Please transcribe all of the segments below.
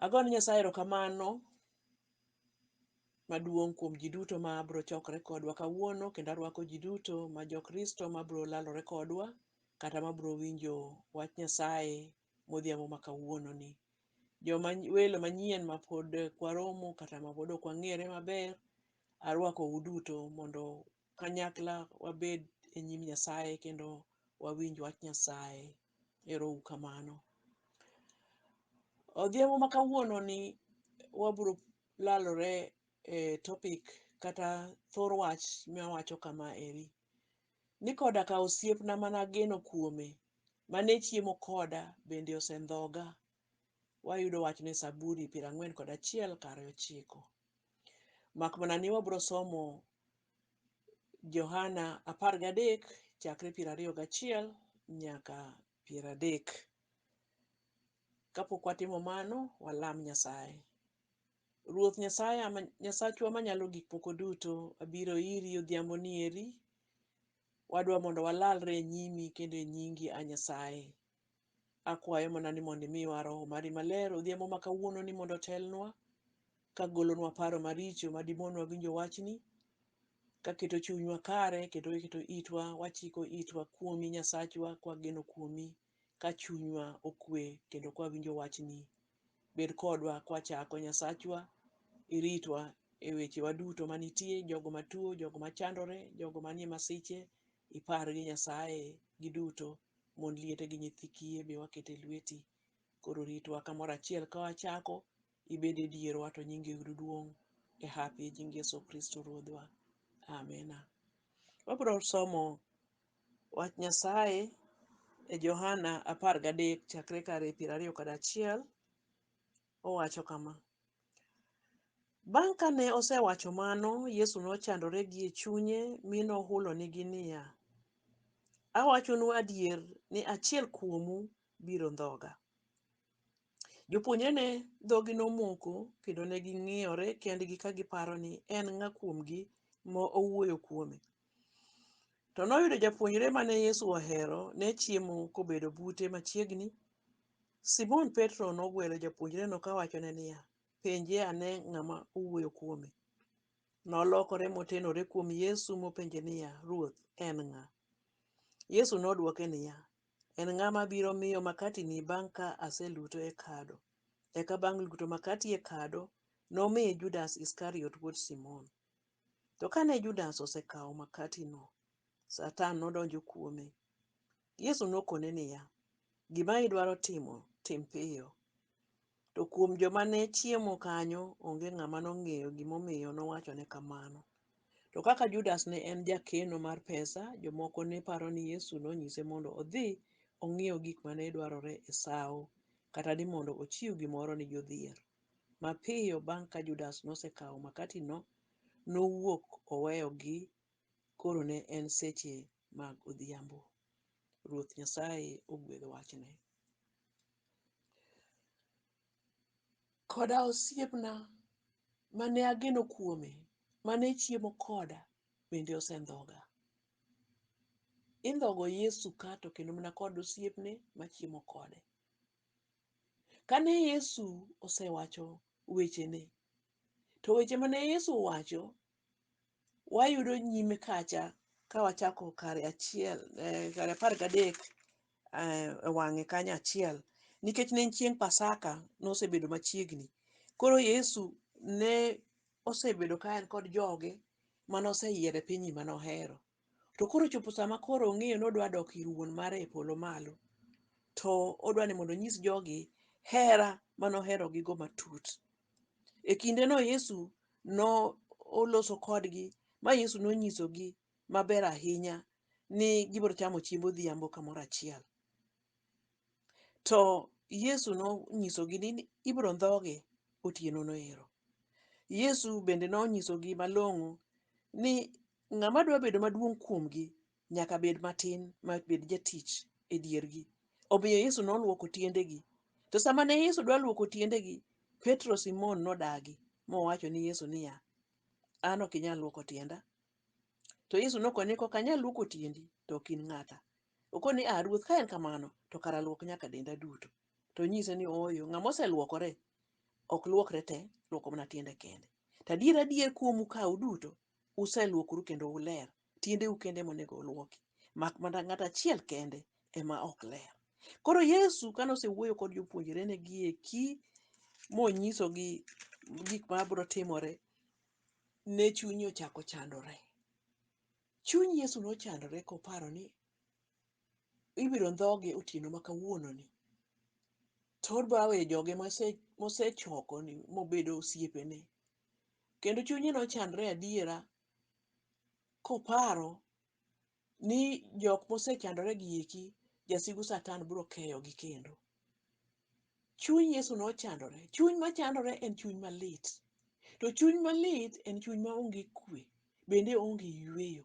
Ago ne Nyasaye erokamano maduong' kuom ji duto ma biro chokore kodwa kawuono kendo arwako ji duto ma Jokristo ma biro lalore kodwa kata ma biro winjo wach Nyasaye modhiambo ma kawuononi. Joma welo manyien ma pod kwaromo kata ma pod ok wang'ere maber, arwakou duto mondo kanyakla wabed e nyim Nyasaye kendo wawinj wach Nyasaye. Ero uru kamano. Odhiambo ma kawuono ni wabiro lalore e topic kata thor wach mawacho kama eri. Ni koda ka osiepna mana geno kuome, mane chiemo koda bende osendhoga Wayudo wachno e Saburi piero ang'wen kod achiel kare ochiko. Mak mana ni wabiro somo Johana apar gadek chakre piero ariyo gachiel nyaka piero adek. Kapok watimo mano, walam Nyasaye. Ruoth Nyasaye ama Nyasachwa manyalo gik moko duto, abiro iri odhiamboni eri. Wadwa mondo walalre e nyimi kendo e nyingi, A Nyasaye, Akwayo mana ni mondo imiwa Roho mari maler odhiambo ma kawuononi mondo otelnwa, ka golonwa paro maricho ma dimonwa winjo wachni, ka keto chunywa kare kendo keto itwa, wachiko itwa kuomi Nyasachwa kwageno kuomi, ka chunywa okwe kendo kwawinjo wachni. Bed kodwa kwachako Nyasachwa, iritwa e wechewa duto manitie, jogo matuo, jogo machandore, jogo manie masiche, ipargi Nyasaye giduto. Mond liete gi nyithi kiye be waketo e lweti. Koro ritwa kamoro achiel ka wachako, ibed e dierwa to nyingi oyud duong' e hapi e nying Yesu Kristo Ruodhwa. Amina. Wabiro somo wach Nyasaye e Johana apar gadek chakre kar e piero ariyo kod achiel. Owacho kama, Bang' ka ne osewacho mano, Yesu nochandore gie chunye mi nohulonigi niya, Awachonu adier ni achiel kuomu biro ndhoga. Jopuonjrene dhogi nomoko kendo ne ging'iyore kendgi ka giparo ni en ng'a kuomgi ma owuoyo kuome. To noyudo japuonjre ma ne Yesu ohero ne chiemo kobedo bute machiegni. Simon Petro nogwelo japuonjreno ka wachone niya, Penje ane ng'ama owuoyo kuome. Nolokore motenore kuom Yesu mopenje niya, Ruoth, en ng'a? Yesu nodwoke niya, En ng'ama biro miyo makatini bang' ka aseluto e kado. Eka bang' luto makati e kado, nomiye Judas Iskariot wuod Simon. To kane Judas osekawo makatino, Satan nodonjo kuome. Yesu nokone niya, Gima idwaro timo, tim piyo. To kuom joma ne chiemo kanyo, onge ng'ama nong'eyo gimomiyo nowachone kamano. To kaka Judas ne en jakeno mar pesa, jomoko ne paro ni Yesu nonyise mondo odhi ong'iew gik ma ne dwarore e sawo, kata ni mondo ochiw gimoro ni jodhier. Mapiyo bang' ka Judas nosekawo makatino, nowuok oweyogi koro ne en seche mag odhiambo. Ruoth Nyasaye ogwedh wachne. Koda osiepna mane ageno kuome, mane chiemo koda, bende osendhoga. Indhogo Yesu ka to kendo mana kod osiepne machiemo kode. Kane Yesu osewacho wechene, to weche ma ne Yesu owacho wayudo nyime kacha ka wachako kare achiel, eh, kare apar gadek eh, e wang'e kanyo achiel, nikech ne en chieng' Pasaka, nosebedo machiegni. Koro Yesu ne osebedo ka en kod joge mane oseyiero e piny mane ohero. To koro ochopo sama koro ong'eyo ni odwa dok ir wuon mare e polo malo, to odwa ni mondo onyis jogi hera ma noherogigo matut. E kindeno Yesu noloso kodgi ma Yesu nonyisogi maber ahinya ni gibiro chamo chiemb odhiambo kamoro achiel. To Yesu nonyisogi ni ibiro ndhoge otienono ero. Yesu bende nonyisogi malong'o ni Ng'ama dwa bedo maduong' kuomgi nyaka bed matin, ma bed jatich e diergi. Omiyo Yesu noluoko tiendegi. To sama ne Yesu dwa luoko tiendegi, Petro Simon nodagi, mowacho ni Yesu niya, An ok inyal luoko tienda. To Yesu nokone ni, Kok anyal luoko tiendi, to ok in ng'ata. Okone ni, A Ruoth, ka en kamano, to kara luok nyaka denda duto. To onyise ni, Ooyo, ng'ama oseluokore ok luokre te, luoko mana tiende kende. To adier, adier kuomu ka uduto uselwokoru kendo uler, tiendeu kende monego olwoki, mak mana ng'at achiel kende ema ok ler. Koro Yesu kane osewuoyo kod jopuonjrene gi eki monyisogi gik ma biro timore, ne chunye ochako chandore. Chuny Yesu nochandore koparo ni ibiro ndhoge otieno ma kawuononi. To odwa weyo joge mose- mosechokoni mobedo osiepene. kendo chunye nochandre adiera koparo ni jok mosechandore gi eki jasigu satan biro keyogi kendo. Chuny Yesu nochandore. Chuny machandore en chuny malit. To chuny malit en chuny maonge kwe, bende onge yueyo.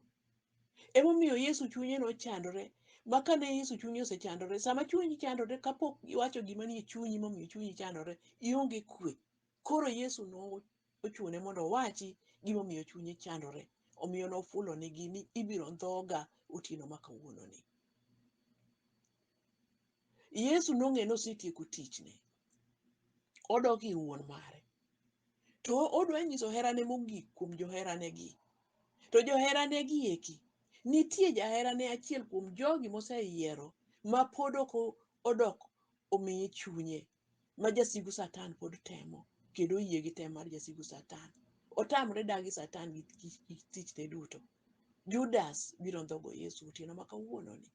Emomiyo Yesu chunye nochandore, ma kane Yesu chunye osechandore, sama chunyi chandore kapok iwacho gima nie chunyi momiyo chunyi chandore, ionge kwe. Koro Yesu nochune mondo owachi gimomiyo chunye chandore, omiyo nofulonigi ni, Ibiro ndhoga otieno ma kawuononi. Yesu nong'eyo ni osetieko tichne, odok ir Wuon mare, to odwa nyiso herane mogik kuom joheranegi. To joheranegi eki, nitie jaherane achiel kuom jogi moseyiero ma pod ok odok omiye chunye ma jasigu Satan pod temo kendo oyie gi tem mar jasigu Satan. Otamre dagi Satan gi gi- gi tichne duto. Judas biro ndhogo Yesu otieno ma kawuononi.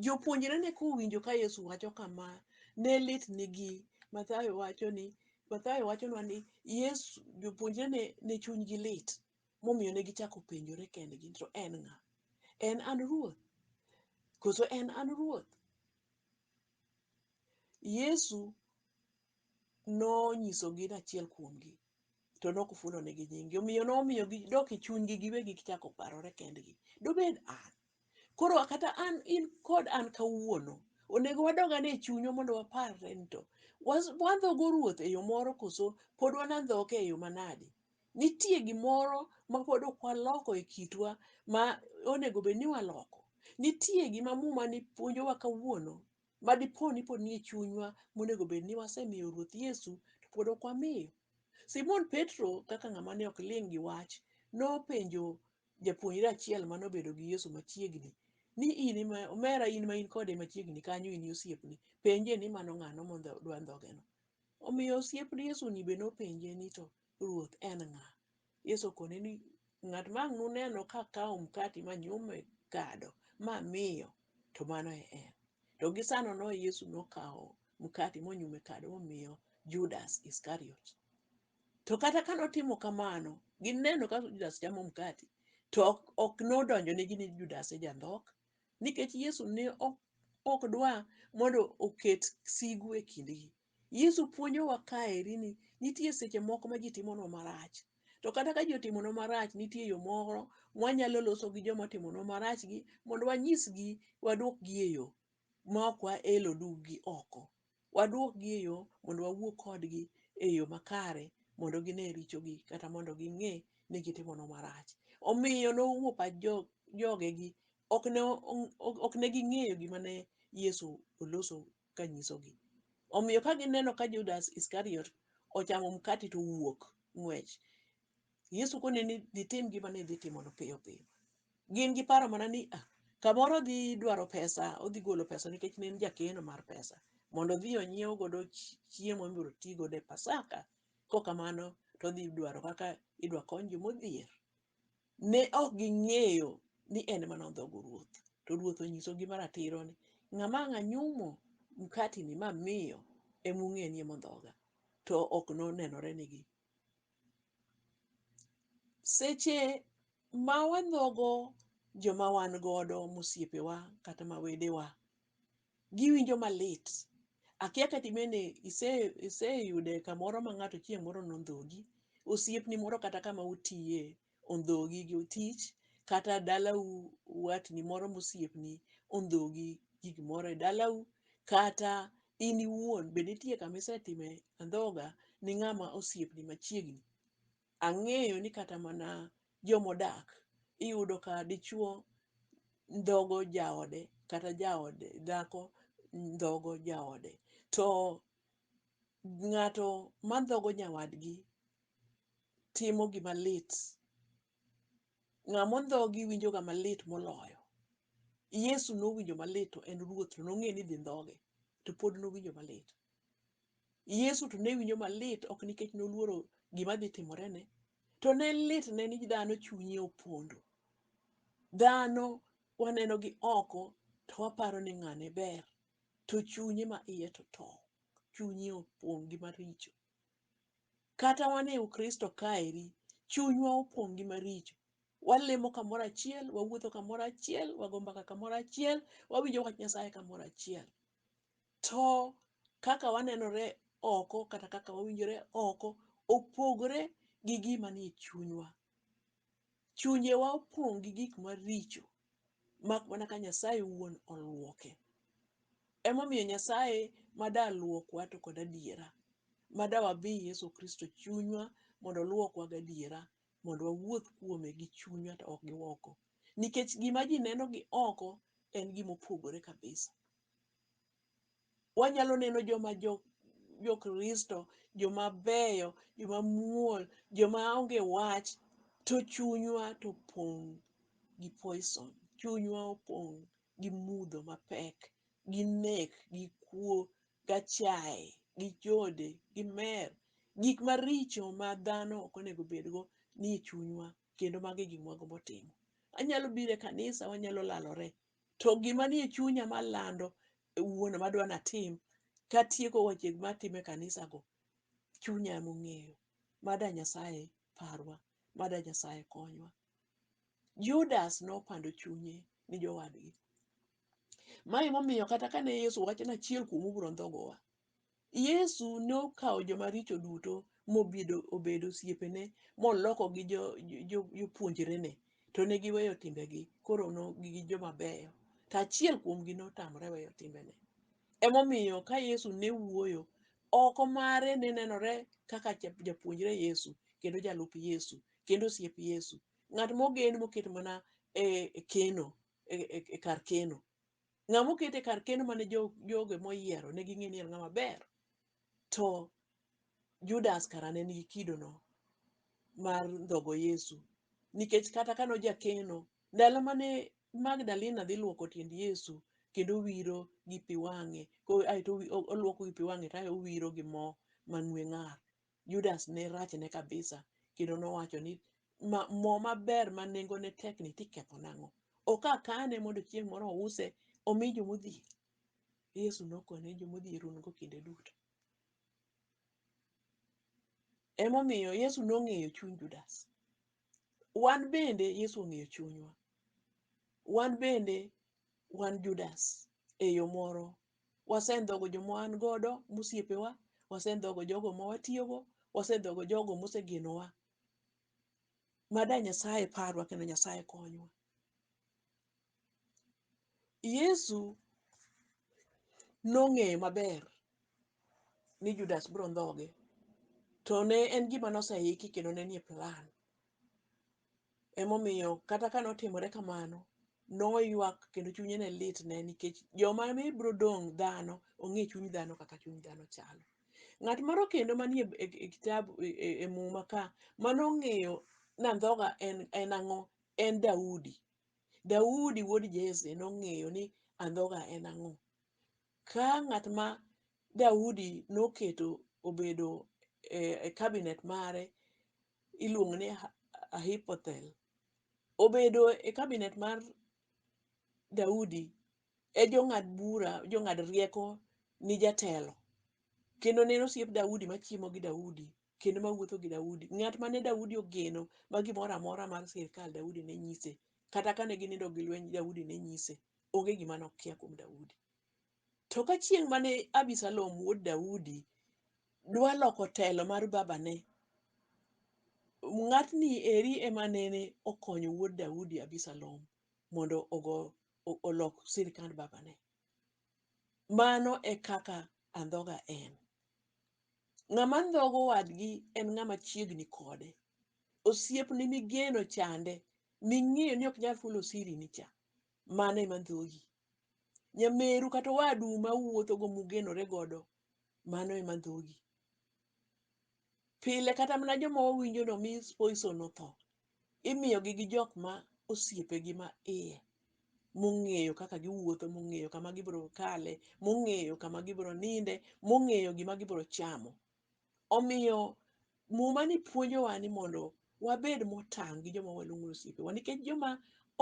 Jopuonjrene kowinjo ka Yesu wacho kama, ne litnigi. Mathayo wacho ni Mathayo wachonwa ni Yesu jopuonjrene ne chunygi lit momiyo ne gichako penjore kendgi to en ng'a? En an ruoth? Koso en an ruoth? Yesu nonyisogi ni achiel kuomgi to ne ok ofulonegi nyingi omiyo nomiyo gidok e chunygi giwegi gichako parore kendgi dobed an koro kata an in kod an kawuono onego wadog ane e chunywa mondo waparre ni to was- wandhogo ruoth e yo moro koso pod wanandhoke e yo manade Nitie gimoro ma pod ok waloko e kitwa ma onego bed ni waloko. Nitie gima muma ni puonjowa kawuono ma dipo ni pod nie chunywa monego bed ni wasemiyo Ruoth Yesu to pod ok wamiyo. Simon Petro kaka ng'ama ne ok ling' gi wach nopenjo japuonjre achiel mane obedo gi Yesu machiegni ni in ema omera in ma in kode machiegni kanyo in e osiepne. Penje ni mano ng'ano ma dwa ndhoge no. Omiyo osiep Yesu ni be nopenje ni to Ruoth en ng'a? Yesu okone ni ng'at ma ang' nuneno ka kawo mkati ma nyume kado ma miyo, to mano e en. To gi sano no Yesu nokawo mkati monyume kado momiyo Judas Iskariot. To kata ka notimo kamano, gineno ka Judas chamo mkati, to ok ok nodonjonegi ni Judas e jandhok, nikech Yesu ne ok ok dwa mondo oket sigu e kindgi. Yesu puonjowa kaeri ni nitie seche moko ma ji timonwa marach. To kata ka ji otimonwa marach, nitie yo moro mwanyalo loso gi joma otimonwa marachgi mondo wanyisgi wadwokgi e yo ma ok waelo duggi oko. Wadwokgi e yo mondo wawuo kodgi e yo makare mondo gine richogi kata mondo ging'e ni gitimonwa marach. Omiyo nowuo pach jo- jogegi, ok ne o- ok ne ging'eyo gima ne Yesu oloso kanyisogi. Omiyo ka gineno ka Judas Iskariot ochamo mkati to owuok ng'wech, Yesu kone ni dhi tim gima ne idhi timono piyo piyo. Gin giparo mana ni ah, kamoro odhi dwaro pesa, odhi golo pesa nikech ne en jakeno mar pesa mondo odhi onyiew godo chi- chiemo mibiro ti godo e Pasaka. Kokamano to odhi dwaro kaka idwa kony jomodhier. ne ok ging'eyo ni en ema nondhogo ruoth. To ruoth onyisogi maratiro ni, Ng'ama ang' anyumo mkatini mamiyo ema ung'e ni ema ondhoga. To ok nonenore nigi. Seche ma wandhogo joma wan godo, mosiepewa kata ma wedewa, giwinjo malit. Akia kata in bende iseyude kamoro ma ng'ato chieng' moro nondhogi, osiepni moro kata kama utiye ondhogi gi tich kata dalau watni moro mosiepni ondhogi gi gimoro e dalau kata in iwuon be nitie kama isetime andhoga ni ng'ama osiepni machiegni. Ang'eyo ni kata mana jomodak iyudo ka dichuo ndhogo jaode kata jaode dhako ndhogo jaode. To ng'ato mandhogo nyawadgi timo gima lit, ng'amondhogi winjoga malit moloyo. Yesu nowinjo malit to en ruoth to nong'e ni idhi ndhoge to pod nowinjo malit. Yesu to ne winjo malit ok nikech noluoro gima dhi timorene, to ne litne ni dhano chunye opondo. Dhano waneno gi oko to waparo ni ng'ane ber, to chunye ma iye to tow, chunye opong' gi maricho. Kata wan e Ukristo kaeri, chunywa opong' gi maricho. Walemo kamoro achiel, wawuotho kamoro achiel, wago mbaka kamoro achiel, wawinjo wach Nyasaye kamoro achiel. to kaka wanenore oko kata kaka wawinjore oko opogore gi gima nie chunywa. Chunjewa opong' gi gik maricho mak mana ka Nyasaye wuon oluoke. Emomiyo Nyasaye ma da luokwa to kod adiera, ma da wabi Yesu Kristo chunywa mondo oluokwa gadiera mondo wawuoth kuome gi chunywa to ok gi oko. Nikech gima ji neno gi oko en gima opogore kabisa. Wanyalo neno joma jo jo Kristo, joma beyo, joma muol, joma onge wach, to chunywa to opong' gi poison. Chunywa opong' gi mudho mapek gi nek gi kuo gachaye gi chode gi mer gik maricho ma dhano ok onego bed go nie chunywa kendo mago e gik mwagombo timo. Anyalo biro e kanisa wanyalo lalore to gima nie chunya malando e wuon madwa natim katieko wache gima atimo e kanisa go chunya emong'eyo. Mada Nyasaye parwa, mada Nyasaye konywa. Judas nopando chunye ni jowadgi. Ma emomiyo kata kane Yesu wacho ni achiel kuomu biro ndhogowa, Yesu nokawo joma richo duto mobedo obedo osiepene molokogi jo- jo- jo- jopuonjrene to ne giweyo timbegi koro no gi joma beyo to achiel kuomgi notamre weyo timbene emomiyo ka Yesu ne wuoyo oko mare ne nenore kaka ja- japuonjre Yesu kendo jalup Yesu kendo osiep Yesu. Ng'at mogen moket mana e e keno, e, e, e kar keno. Ng'a moket e kar keno mane jo, joge moyiero ne ging'e ni en ng'ama ber. To Judas kara ne nigi kidono mar ndhogo Yesu. Nikech kata kane ojakeno, ndalo mane Magdalena dhi luoko tiend Yesu kendo owiro gi pi wang'e, ko- aeto owi- o- oluoko gi pi wang'e to ae owiro gi mo mang'we ng'ar. Judas ne rachne kabisa kendo nowacho ni ma, mo maber ma nengone tek ni tiketho nang'o? Ok akane mondo chieng' moro ouse omi jomodhier. Yesu nokone ni jomodhier un-go kinde duto. Emomiyo Yesu nong'eyo chuny Judas. wan bende Yesu ong'eyo chunywa. Wan bende wan Judas e yo moro. Wasendhogo joma wan godo mosiepewa, wasendhogo jogo ma watiyogo, wasendhogo jogo mosegenowa. Mad a Nyasaye parwa kendo Nyasaye konywa. Yesu nong'eyo maber ni Judas biro ndhoge, to ne en gima noseiki kendo ne nie plan. Emomiyo kata ka notimore kamano, noywak kendo chunye ne litne nikech joma ne biro dong' dhano, ong'e chuny dhano kaka chuny dhano chalo. Ng'at moro kendo manie e e kitabu e e- e muma ka manong'eyo nandhoga en en ang'o? En Daudi. Daudi wuod Jesse nong'eyo ni andhoga en ang'o. Ka ng'at ma Daudi noketo obedo e kabinet mare iluongo ni Ahithophel, obedo e kabinet mar Daudi e jong'ad bura, jong'ad rieko ni jatelo kendo ne en osiep Daudi machiemo gi Daudi kendo ma wuotho gi Daudi, ng'at mane Daudi ogeno ma gimoro amora mar sirkal Daudi ne nyise, kata kane ginindo gi lweny Daudi ne nyise, onge gima nokia kuom Daudi. To ka chieng' mane Abisalom wuod Daudi dwa loko telo mar babane, ng'atni eri ema nene okonyo wuod Daudi Abisalom mondo ogo o- olok sirkand babane. Mano e kaka andhoga en. Ng'ama ndhogo wadgi en ng'ama chiegni kode. Osiepni migeno chande, ming'eyo ni ok nyal fulo sirini cha, mano ema ndhogi. Nyameru kata owadu ma uwuothogo mugenore godo, mano ema ndhogi. Pile kata mana joma wawinjo ni omi poison otho, imiyogi gi jok ma osiepegi ma iye mong'eyo kaka giwuotho, mong'eyo kama gibiro kale, mong'eyo kama gibiro ninde, mong'eyo gima gibiro chamo. Omiyo muma ni puonjowa ni mondo wabed motang' gi joma waluongo ni osiepewa nikech joma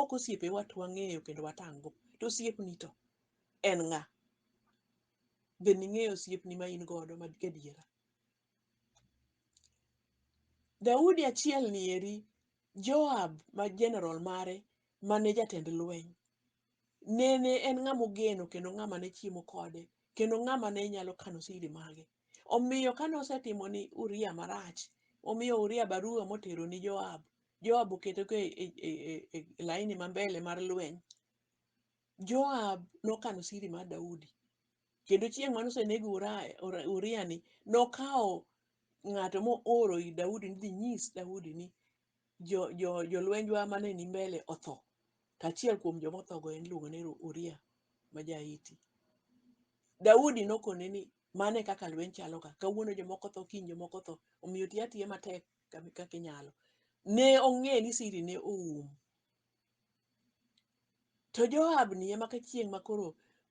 ok osiepewa to wang'eyo kendo watang' go. To osiepni to en ng'a? Be ning'eyo osiepni ma in godo ma gadiera? Daudi achielni eri, Joab ma jenerol mare mane jatend lweny, nene en ng'ama ogeno kendo ng'ama ne chiemo kode kendo ng'ama ne nyalo kano siri mage. Omiyo kane osetimo ni Uria marach, omiyo Uria barua motero ni Joab. Joab oketo ka e- e- e- e- e laini ma mbele mar lweny. Joab nokano siri mar Daudi. Kendo chieng' mane oseneg Uraya, Ura- Uria ni, nokawo ng'ato mooro ir Daudi ni dhi nyis Daudi ni jo, jo, jolwenjwa mane ni mbele otho. To achiel kuom joma othogo en iluongo ni Ru- Uria ma ja-Hiti. Daudi nokone ni mano e kaka lweny chalo ka kawuono jomoko tho kiny jomoko tho omiyo ti atiya matek kami- kaka inyalo ne ong'e ni siri ne oum To Joab ni ema ka chieng' ma koro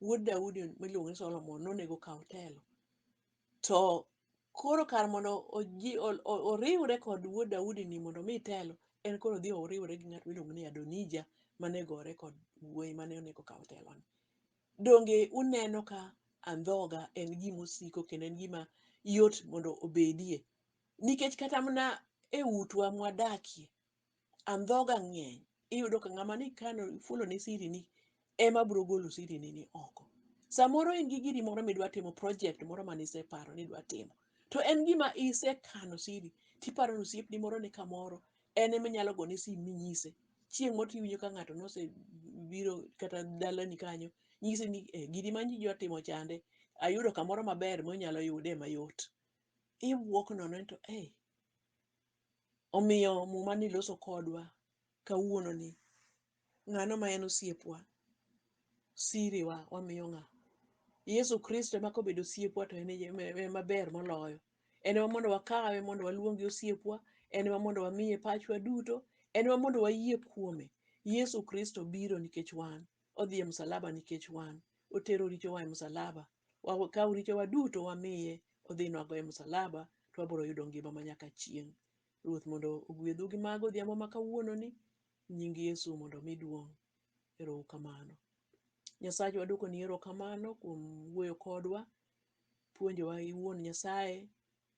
wuod Daudi miluongo ni Solomon nonego kaw telo. To koro kar mondo oji, o, o, oriwre kod wuod Daudi ni mondo omi telo, en koro dhi oriwore gi ng'at miluongo ni Adonija mane gore kod wuoyi mane onego kaw teloni. Donge uneno ka andhoga en gima osiko kendo en gima yot mondo obedie? Nikech kata mana e utwa mwadakie, andhoga ng'eny iyudo ka ng'ama ni kano ifulo ne siri ni ema bro golo siri ni ni oko samoro in gi giri moro midwa timo project moro mane iseparo ni idwa timo to en gima isekano siri tiparo ni osiepni moro ni kamoro en ema inyalo gone sim minyise chieng' moro tiwinjo ka ng'ato nosebiro kata dalani kanyo nyisi ni eh, giri ma nji dwa timo chande ayudo kamoro maber monyalo yude mayot iwuok nono ni to eh, Omiyo muma ni loso kodwa kawuono ni ng'ano ma en osiepwa, siriwa wamiyo ng'a? Yesu Kristo ema kobedo osiepwa to en ema ber moloyo. En ema mondo wakawe mondo waluonge osiepwa, en ema mondo wamiye pachwa duto, en ema mondo wayie kuome. Yesu Kristo biro nikech wan. odhi e msalaba nikech wan. Otero richowa e msalaba. Wakawo richowa duto wamiye odhi nwago e msalaba to wabiro yudo ngima ma nyaka chieng'. Ruoth mondo ogwedhu gi mago odhiambo ma kawuononi. Nying Yesu mondo omi duong'. Ero uru kamano. Nyasache wadwokoni erokamano kuom wuoyo kodwa, puonjowa iwuon Nyasaye,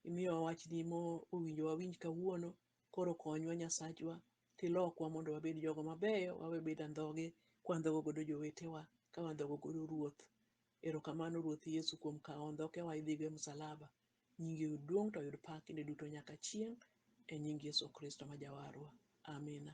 imiyowa wachni mowinjo wawinj kawuono. Koro konywa Nyasachwa tilokwa mondo wabed jogo mabeyo, wawe bedo andhoge kwandhogo godo jowetewa, ka wandhogo godo Ruoth. Erokamano Ruoth Yesu kuom kawo ondhokewa idhigo e musalaba. Nyingi oyud duong' to oyud pak kinde duto nyaka chieng'. E nying Yesu Kristo ma Jawarwa. Amina.